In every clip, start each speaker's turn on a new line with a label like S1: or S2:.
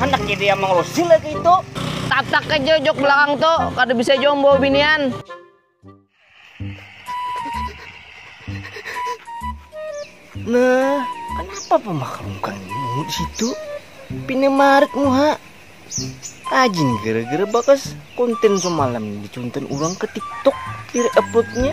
S1: Handak jadi yang
S2: mengurusi lagi itu. Tatak aja
S1: jok belakang tuh, kada bisa jombo binian.
S2: Nah, kenapa pemakamkan mu di situ? Pina marik muha. Ajin gara-gara bakas konten semalam dicuntan orang ke TikTok, di uploadnya.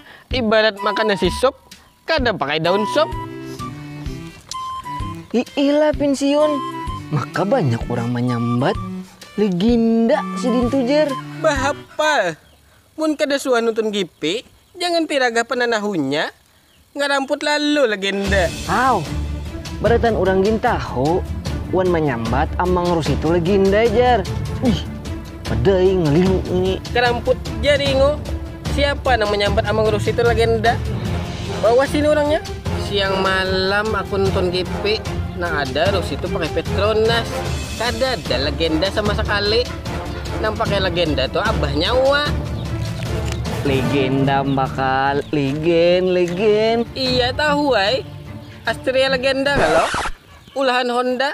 S3: ibarat makan nasi sup kada pakai daun sup
S2: iilah pensiun maka banyak orang manyambat legenda sidin tu jer bahapal
S3: mun kada suah nonton GP jangan piragah pananahunya ngaramput lalu legenda haw
S2: barataan urang gin tahu wan manyambat amang rus itu legenda jer ih. Peda ing ngelingu ini. Keramput ja
S3: ringo. Siapa nang menyambat Amang Rusi itu legenda. Bawa sini orangnya. Siang malam aku nonton GP nang ada Rusi itu pakai Petronas. Kada ada legenda sama sekali. Nang pakai legenda tuh abahnya Wak. Legenda
S2: bakal legen legen. Iya tahu
S3: ai. Astria legenda kalau. Ulahan Honda.